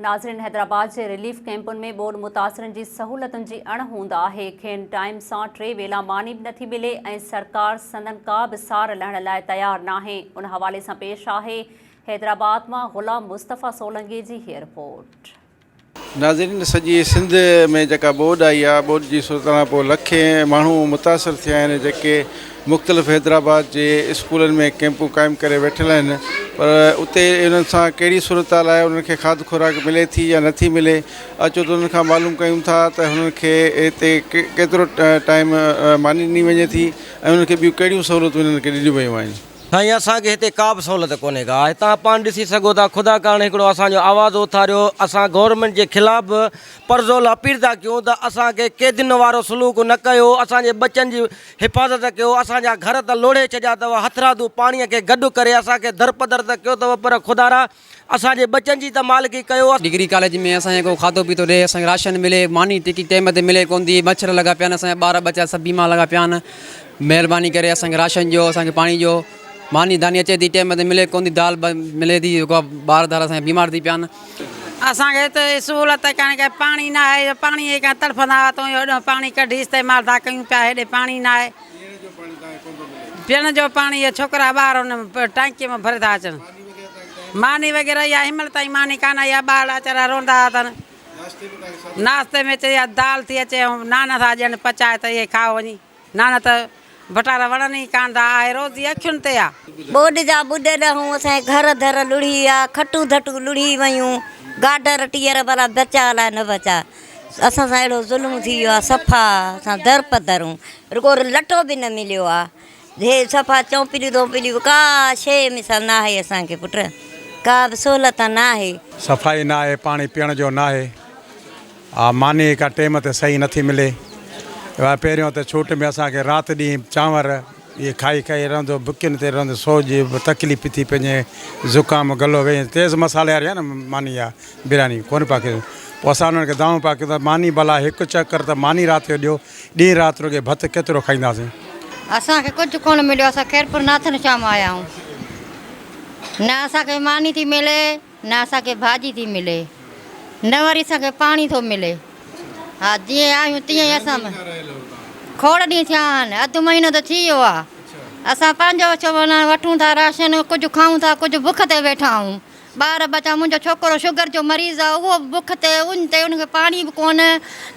ناظرين حيدرآباد جي رليف ڪئمپن ۾ ٻوڏ متاثرن جي سهولتن جي اڻ هوند آهي کين ٽائيم سان ٽي ويلا ماني به نٿي ملي ۽ سرڪار سندن ڪا به سار لهڻ لاء تيار ناهي ان حوالي سان پيش آهي حيدرآباد مان غلام مصطفيٰ سولنگي جي هي رپورٽ. ناظرين سڄي سنڌ ۾ جيڪا ٻوڏ آئي آهي ٻوڏ جي صورتحال کان پوء لکين ماڻهو متاثر ٿيا آهن جيڪي مختلف حيدرآباد جي اسڪولن ۾ ڪئمپون قائم ڪري ويٺل آهن پر اتي انهن سان ڪهڙي صورتحال آهي انهن کي کاڌ خوراڪ ملي ٿي يا نٿي ملي اچو ته انهن کان معلوم ڪيون ٿا ته انهن کي اتي ڪيترو ٽائيم ماني ڏني وڃي ٿي ۽ انهن کي ٻيون ڪهڙيون سهولتون انهن کي ڏنيون ويون آهن. سائين اسان کي هتي ڪا به سهولت ڪونهي ڪا آهي توهان پاڻ ڏسي سگهو ٿا خدا ڪرڻ هڪڙو اسان جو آواز اٿاريو اسان گورنمينٽ جي خلاف به پرزور اپيل ٿا ڪيون ته اسان کي قيدين وارو سلوڪ نه ڪيو اسان جي ٻچن جي حفاظت ڪيو، اسان جا گهر ته لوڙهي ڇڏيا اٿو، هٿرادو پاڻيء کي گڏ ڪري اسان کي درپدر ته ڪيو اٿو، پر خدارا! اسان جي ٻچن جي ته مالڪي ڪيو. ڊگري ڪاليج ۾ اسان کي ڪو کاڌو پيتو ڏي، اسان کي راشن ملي، ماني ٽڪي ٽيم تي ملي ڪونه ٿي، مڇر لڳا پيا آهن، اسان جا ٻار ٻچا سڀ بيمار لڳا پيا آهن، مهرباني ڪري اسان کي راشن ڏيو، اسان کي پاڻي ڏيو، ماني داني اچي ٿي ٽيم تي ملي ڪونه ٿي، دال ملي ٿي، ٻار ڌار اسان جا بيمار ٿي پيا آهن. اسان کي اتي سهولت ئي ڪانهي ڪا پاڻي ناهي جو پاڻي ئي ڪانهي تڙڦندا هئا تون هيڏو پاڻي ڪڍي استعمال ٿا ڪيون پيا هيڏي پاڻي ناهي پيئڻ جو پاڻي اهي ڇوڪرا ٻار ان ٽانڪي مان ڀري ٿا اچن ماني وغيره اها هينمهل تائين ماني ڪانه آئي آهي ٻارڙا ويچارا روندا هئا تن ناشتي ۾ چي دال ٿي اچي نان ٿا ڏين پچائي ته اهي کائو وڃي نانا ته ڀٽارا وڻن ئي ڪانه ٿا، آهي روز جي اکين تي آ. ٻوڏ جا ٻوڏ ڏهون، اسان جي گهر در لڙهي ويا، کٽون ڌٽون لڙهي ويون، گاڊر ٽيئر ڀلا بچا الاء نه بچا، اسان سان اهڙو ظلم ٿي ويو آ، صفا اسان در په در آهون، رڳو لٽو به نه مليو آ، هي صفا چونپليون ڌونپليون ڪا شيء مثل ناهي اسان کي پٽ، ڪا به سهولت ناهي. صفائي ناهي، پاڻي پيئڻ جو ناهي. آ ماني ئي ڪا ٽيم تي صحيح نٿي ملي آ پهريون ته ڇوٽ ۾ اسان کي رات ڏينهن چانور ئي کائي کائي رهندو بکين تي رهندو سو جي تڪليف ٿي پنهنجي زڪام گلو ويهي تيز مصالحي واري آ نه ماني آ برياني ڪون پيا کين پو اسان انهن کي دانهون پيا ڪيون ته ماني ڀلا هڪ چڪر ته ماني رات جو ڏيو ڏينهن رات رڳي ڀت ڪيترو کائينداسين. اسان کي ڪجهه ڪون مليو اسان خيرپور ناٿن شاهه مان آيا آهيون نه اسان کي ماني ٿي ملي. نه اسان کي ڀاڄي ٿي ملي نه وري اسان کي پاڻي ٿو ملي ها جيئن آهيون تيئن ئي اسان کوڙ ڏينهن ٿيا آهن اڌ مهينو ته ٿي ويو آهي اسان پنهنجو ڇو معنيٰ وٺون ٿا راشن ڪجهه کائون ٿا ڪجهه بک تي ويٺا آهيون ٻار ٻچا منهنجو ڇوڪرو شگر جو مريض آهي اهو به بک تي ان تي ان کي پاڻي به ڪونه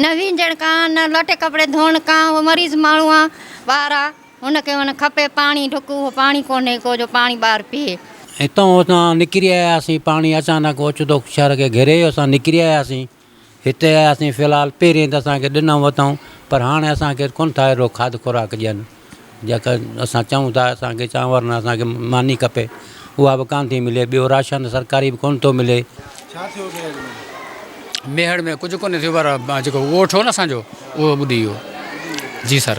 نه وينجڻ ڪانه نه لٽي ڪپڙي ڌوئڻ ڪانه اهو مريض ماڻهو آهي ٻارا هن کي هن کپي پاڻي ڍڪ اهو پاڻي ڪونهي ڪو جو پاڻي ٻار پيئي. هتان اسان نڪري آياسين پاڻي اچانڪ اوچتو شهر کي گهيري ويو اسان نڪري آياسين هتي آياسين في الحال پهرين ته اسان کي ڏنائون وتائون پر هاڻي اسان کي ڪونه ٿا اهڙو کاڌ خوراڪ ڏين جيڪا اسان چئون ٿا اسان کي چانور نه اسان کي ماني کپي اها به ڪانه ٿي ملي ٻيو راشن سرڪاري به ڪونه ٿو ملي. ڇا ٿيو ميهڙ ۾؟ ميهڙ ۾ ڪجهه ڪونه ٿيو پر جيڪو ڳوٺ هو نه اسان جو اهو ٻڏي ويو جي سر.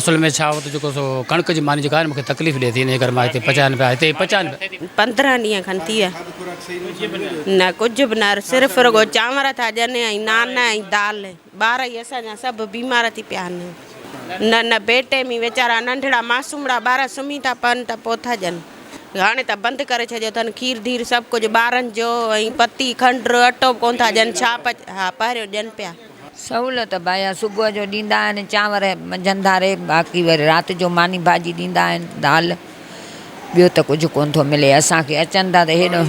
اصل ۾ ڇا هو ته جيڪو سو ڪڻڪ جي ماني جيڪا آهي نه مونکي تڪليف ڏي ٿي انهي ڪري مان هتي پچايان نه پيا هتي ئي پچان پيا. پندرهن ڏينهن کن ٿي ويا نه ڪجهه به نه صرف رڳو چانور ٿا ڏين ۽ نان ۽ دال ٻار ئي اسان جا سڀ بيمار ٿي پيا آهن نه نه بي ٽيمي ويچارا ننڍڙا ماصومڙا ٻار سمهي ٿا پون ته پو ٿا ڏين هاڻي ته بند ڪري ڇڏيو اٿن کير ڌير سڀ ڪجهه ٻارن جو ۽ پتي کنڊ اٽو به ڪون ٿا ڏين ڇا پچ ها پهريون ڏين پيا. سهولت بايا صبح جو ڏيندا آهن چانور منجهند ڌاري باقي وري رات جو ماني ڀاڄي ڏيندا آهن دال ٻيو ته ڪجهه ڪون ٿو ملي اسان کي اچن ٿا ته هيڏو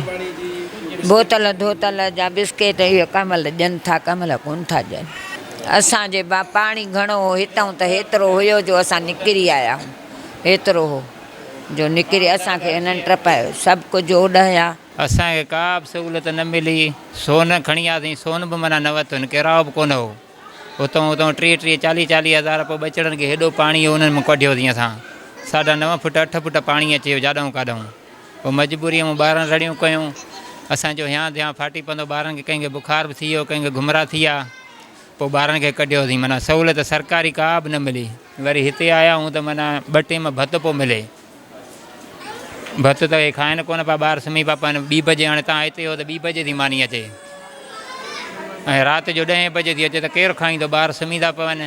بوتل ڌوتل جا بسڪيٽ اهي ڪنهن مهل ڏين ٿا ڪنهن مهل ڪون ٿا ڏين اسان جي با پاڻي گهڻو هو هتئون ته هيترو هيو جو اسان نڪري آيا آهيون هيترو هو جو نڪري اسان کي هنن ٽپايو سڀ ڪجهه اوڏهيا. اسان کي ڪا به سهولت نه ملي، سون کڻي آياسين، سون به معنيٰ نه ورتو، ڪيراء به ڪونه هو، اتئون اتئون ٽيهه ٽيهه چاليهه چاليهه هزار پوء ٻچڙن کي هيڏو پاڻي هو انهن مون ڪڍيوسين اسان، ساڍا نو فوٽ اٺ فوٽ پاڻي اچي ويو جاڏئون ڪاڏئون، پوء مجبوريء مون ٻارن رڙيون ڪيون، اسان جو هيان ڌيان ڦاٽي پندو، ٻارن کي ڪنهن کي بخار به ٿي ويو، ڪنهن کي گهمرا ٿي ويا، پوء ٻارن کي ڪڍيوسين، معنيٰ سهولت سرڪاري ڪا به نه ملي، وري هتي آيا آهيون ته معنيٰ ٻه ٽيم ڀت پو ملي. ڀت ته اهي کائن ڪونه پيا، ٻار سمهي پيا پون. ٻي بجي هاڻي تان هتي هو ته ٻي بجي ٿي ماني اچي ۽ رات جو ڏهين بجي ٿي اچي ته ڪير کائيندو، ٻار سمهي ٿا پون.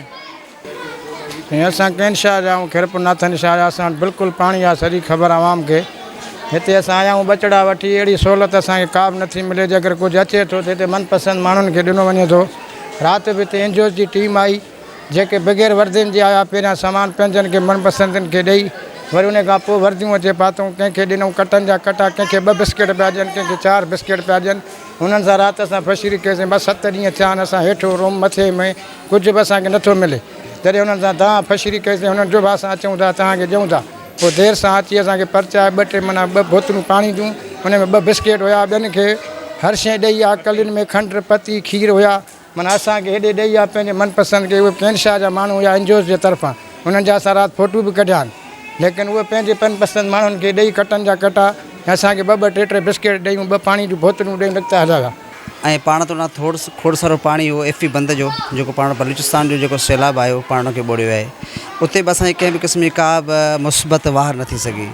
۽ اسان ڪين شاهه جا آهيون، کيرپور ناٿن شاهه جا، اسان وٽ بلڪل پاڻي آهي، سڄي خبر عوام کي. هتي اسان آيا آهيون ٻچڙا وٺي، اهڙي سهولت اسان کي ڪا به نٿي ملي، جيڪر ڪجهه اچي ٿو ته هتي من پسند ماڻهن کي ڏنو وڃي ٿو. رات به هتي اينجوز جي ٽيم آئي. جيڪي بغير وردين جي آيا، پهريان سامان پنهنجن کي من پسندن کي ڏئي، وري ان کان پوء ورديون اچي پاتئون، ڪنهن کي ڏنئون ڪٽن جا ڪٽا، ڪنهن کي ٻه بسڪيٽ پيا ڏين، ڪنهن کي چار بسڪيٽ پيا ڏين، هنن سان رات اسان فشري ڪيسين، ٻه ست ڏينهن ٿيا آهن، اسان هيٺ روم مٿي ۾ ڪجهه به اسان کي نٿو ملي، جڏهن هنن سان دانهن فشري ڪئيسين، هنن چيو به اسان اچئون ٿا، توهان کي ڏيئون ٿا، پوء دير سان اچي اسان کي پرچايو، ٻه ٽي منا ٻه بوتلون پاڻي جون، ان ۾ ٻه بسڪيٽ هيا، ٻين کي هر شيء ڏئي، آڪلين ۾ کنڊ، پتي، کير هيا. من اسان کي هيڏي ڏيئي يا پنهنجي من پسند ڪي اهي ڪين شاهه جا ماڻهو يا اين جي اوز جي طرفان انهن جا اسان رات ڦوٽو به ڪڍيا آهن ليڪن اهي پنهنجي پن پسند ماڻهن کي ڏيئي ڪٽن جا ڪٽا ۽ اسان کي ٻه ٻه ٽي ٽي بسڪيٽ ڏيون ٻه پاڻي جون بوتلون ڏيون نڪتا هلايا. ۽ پاڻ توڙان ٿوڙ کوڙ سارو پاڻي اهو ايف پي بند جو جيڪو پاڻ بلوچستان جو جيڪو سيلاب آيو پاڻ کي ٻوڙيو آهي اتي به اسان کي ڪنهن به قسم جي ڪا به مثبت واهر نه ٿي سگهي.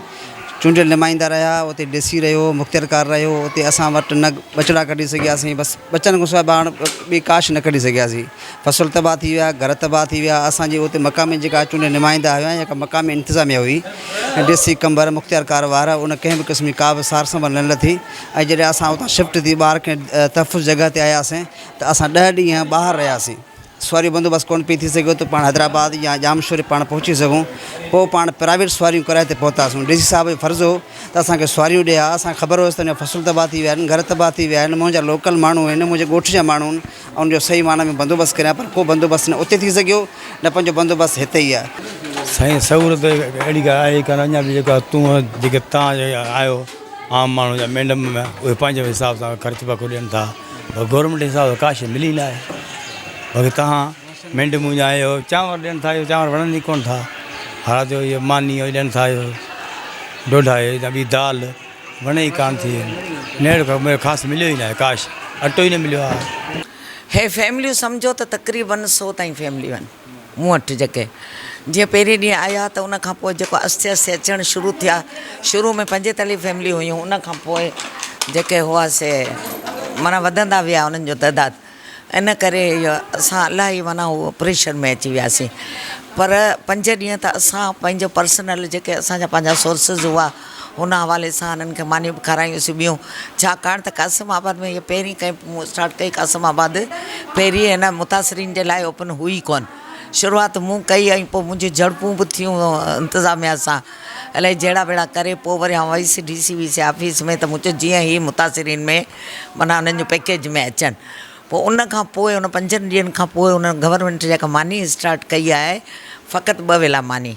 چونڊيل نمائندا رهيا اتي ڊسي رهيو مختيارڪار رهيو اتي اسان وٽ نه ٻچڙا ڪڍي سگهياسين بس ٻچن کان سواء پاڻ ٻي ڪا شيء نه ڪڍي سگهياسين فصل تباهه ٿي ويا گهر تباهه ٿي ويا اسانجي اتي مقامي جيڪا چونڊيل نمائندا هيا يا مقامي انتظاميا هئي ڊسي قمبر مختيارڪار وارا ان ڪنهن به قسم جي ڪا به سار سنڀال نه لڌي ۽ جڏهن اسان اتان شفٽ ٿي ٻاهر ڪنهن تحفظ جڳهه تي آياسين ته اسان ڏهه ڏينهن ٻاهر رهياسين سواريء بندوبست ڪونه پئي ٿي سگهيو ته پاڻ حيدرآباد يا ڄامشوري پاڻ پهچي سگهون. پوء پاڻ پرائيويٽ سواريون ڪرائي تي پهتاسون. ڊي سي صاحب جو فرض هو ته اسان کي سواريون ڏئي ها. اسان کي خبر هيس ته منهنجا فصل تباهه ٿي ويا آهن، گهر تباهه ٿي ويا آهن، مون جا لوڪل ماڻهو آهن، منهنجي ڳوٺ جا ماڻهو آهن، آئون جو صحيح معنيٰ ۾ بندوبست ڪريان پر ڪو بندوبست نه اتي ٿي سگهيو نه پنهنجو بندوبست هتي ئي آهي. سائين سهولت اهڙي ڪا آهي ئي ڪانه اڃا به جيڪا تون جيڪي تان آيو. عام ماڻهو جا مينڍ م اهي پنهنجي حساب سان خرچ پکو ڏين ٿا پر گورنمينٽ جي حساب سان ڪا شي ملي ناهي باقي تهان مينڍ مون جا اهي چانور ڏين ٿا اهي چانور وڻن ئي ڪونه ٿا هر جو اهي ماني اهي ڏين ٿا اهي ڊوڊا اهي يا ٻي دال وڻي ئي ڪانه ٿي نيڙ ک ميڙ خاص مليو ئي ناهي ڪاش اٽو ئي نه مليو آهي هي فيمليون سمجهو ته تقريبن سو تائين فيمليون آهن مون وٽ جيڪي جيئن پهرين ڏينهن آيا ته ان کان پوء جيڪو آهستي آهستي اچڻ شروع ٿيا شروع ۾ پنج تلي فيملي هيون ان کان پوء جيڪي هئا سي معنيٰ وڌندا ويا انهن جو تعداد ان ڪري اسان الاهي معنيٰ هو پريشر ۾ اچي وياسين پر پنج ڏينهن ته اسان پنهنجو پرسنل جيڪي اسانجا پنهنجا سورسز هئا هن حوالي سان هنن کي مانيون به کارايون سي ٻيون ڇاڪاڻ ته قاسم آباد ۾ هيء پهرين ڪئين مون اسٽارٽ ڪئي قاسم آباد پهرين هن متاثرين جي لاء اوپن هئي ئي ڪونه شروعات مون ڪئي ۽ پوء منهنجون جهڙپون به ٿيون انتظاميا سان الائي جهڙا ويڙا ڪري پوء وري آئون ويس D C V C office ۾ ته مون چيو جيئن هي متاثرين ۾ معنيٰ هنن جون پيڪيج ۾ اچن پوء ان کان پوء ان پنجن ڏينهن کان پوء هنن گورنمينٽ جيڪا ماني اسٽارٽ ڪئي آهي فقط ٻه ويلا ماني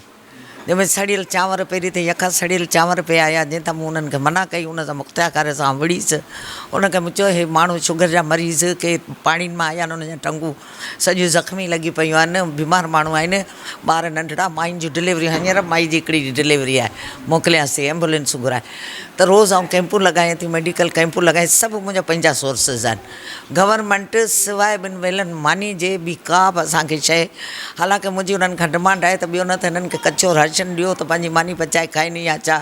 جنهن ۾ سڙيل چانور پيري تي يڪا سڙيل چانور پيا آيا، جنهن تان مون انهن کي منع ڪئي، ان تان مختياڪاري سان آئون وڙهيس، انهن کي مون چيو، هي ماڻهو شگر جا مريض، ڪي پاڻين مان آيا آهن، انهن جون ٽنگون سڄيون زخمي لڳي پيون آهن، بيمار ماڻهو آهن، ٻار ننڍڙا، ماين جون ڊليوريون هينئر مائي جي هڪڙي جي ڊليوري آهي، موڪليانس ٿي ايمبولينسون گهرائي ته روز آئون ڪئمپون لڳايان ٿي، ميڊيڪل ڪئمپون لڳايان ٿي، سڀ منهنجا پنهنجا سورسز آهن. گورنمينٽ سواء ٻن ويلن ماني جي ٻي ڪا به اسان کي شيء حالانڪه منهنجي انهن کان ڊمانڊ آهي ته ٻيو نه ته هنن کي ڪچو راشن ڏيو ته پنهنجي ماني پچائي کائين يا ڇا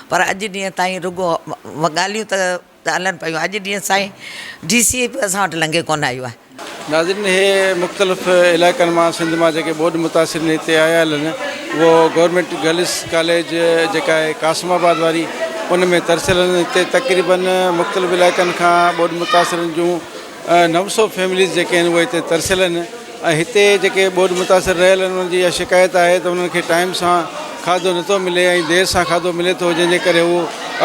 پر اڄ ڏينهن تائين رڳو ڳالهيون ته ته هلن پيون اڄ ڏينهن سائين ڊي سي به اسان وٽ لنگهي ڪونه آيو آهي. ناظرين هي مختلف علائقن مان سنڌ مان جيڪي ٻوڏ متاثرين هتي آيا هلن اهو گورنمينٽ گرلس ڪاليج جيڪا آهي قاسم آباد واري ان ۾ ترسيل آهن هتي تقريبن مختلف علائقن کان ٻوڏ متاثرن جون نو سو فيمليز جيڪي آهن اهي هتي ترسيل آهن ۽ هتي جيڪي ٻوڏ متاثر رهيل آهن انهن جي اها شڪايت آهي ته انهن کي ٽائيم سان کاڌو نٿو ملي ۽ دير سان کاڌو ملي ٿو جنهن جي ڪري هو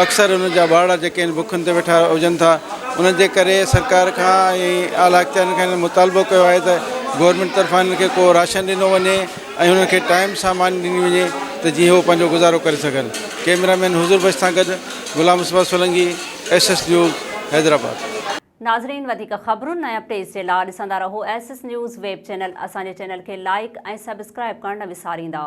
اڪثر انهن جا ٻارڙا جيڪي آهن بکن تي ويٺا هجن ٿا انهن جي ڪري سرڪار کان ۽ اعليٰ اختيارين کان مطالبو ڪيو آهي ته گورنمينٽ طرفان هنن کي ڪو راشن ڏنو وڃي ۽ هنن کي ٽائيم سان ماني ڏني وڃي ته جيئن هو پنهنجو گذارو ڪري سگهن. ڪيمرا مين حضور بخش سان گڏ Ghulam Misbah Solangi, S S news, Hyderabad. ناظرين وڌيڪ خبرن ۽ اپڊيٽس جي لا ڏسندا رهو S S news web channel اسان جي چينل کي لائيڪ ۽ سبسڪرائيب ڪرڻ نه وساريندا.